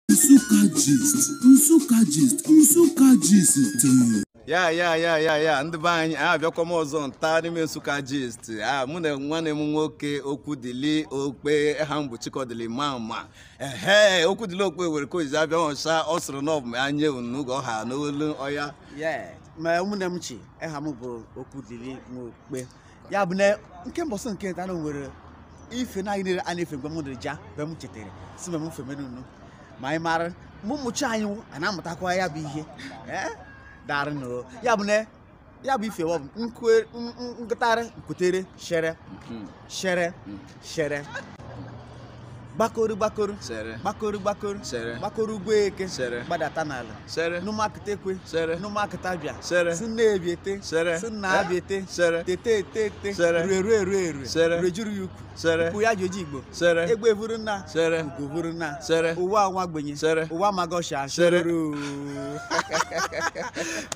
Nsukka Gist, Nsukka Gist, Nsukka Gist. ya ya ya ya ya ndị be anyị abịakwa m ọzọ nta n'ime Nsukka Gist a mụ na nwanne m nwoke Okwudili Okpe aha m bụ Chikọdịli Mama ehe Okwudili Okpe were ka ojizi abịa ọcha ọ sịrị na ọ bụ m anya unu ga ọha n'olu ọya Yeah. ma ụmụnne m chi aha m bụ Okwudili nwa Okpe ya bụ na nke mbọsị nke nta na nwere ife na anyị niile a na-efe mgbe m dịrị ja mgbe m chetara si mgbe m femenunu ma anyị mara ma ụmụchi anyị a na-amụtakwa ya bụ ihe ee darị nụ ya bụ na ya bụ ife wa bụ nkwe- n- n- nkụtarị nkwutere shere shere shere gbakoru gbakoru shere gbakoru gbakoru shere gbakoru ugbo eke shere gbadata n'ala shere n'ụmụakụta ekwe shere n'ụmụakụta bịa shere si nna ebiete shere si nna abiete shere tete etete shere rue rue rue rue shere rejuru ya ukwu shere ukwu ya ji oji igbo shere egbe vuru nna shere ugo vuru nna shere ụwa nwa ogbenye shere ụwa magosha shere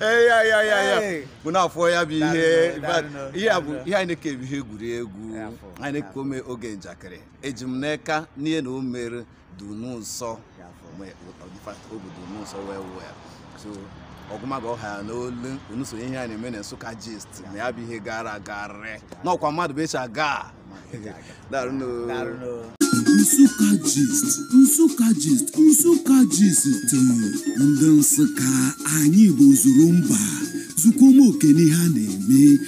ya ya ya ya bụ na afọ ya bụ ihe ihe a bụ ihe anyị na-eke bụ ihe egwuregwu anyị na-eke ome oge njakịrị eji m n'aka n'ihe na o mere dụ unu nsọ mgbe ọdịfa obi dụ unu nsọ wee wụ ya so ọgụmaga ọha ya n'olu unu so ihe a na-eme na Nsukka Gist na ya bụ ihe gara agarị n'ọkwa mmadụ bụ echa gaa Daalụ nụ. Nsukka gist, Nsukka gist, Nsukka gist ndị Nsukka anyị bụ zuru mba zukwa ụmụ oke n'ihe a na-eme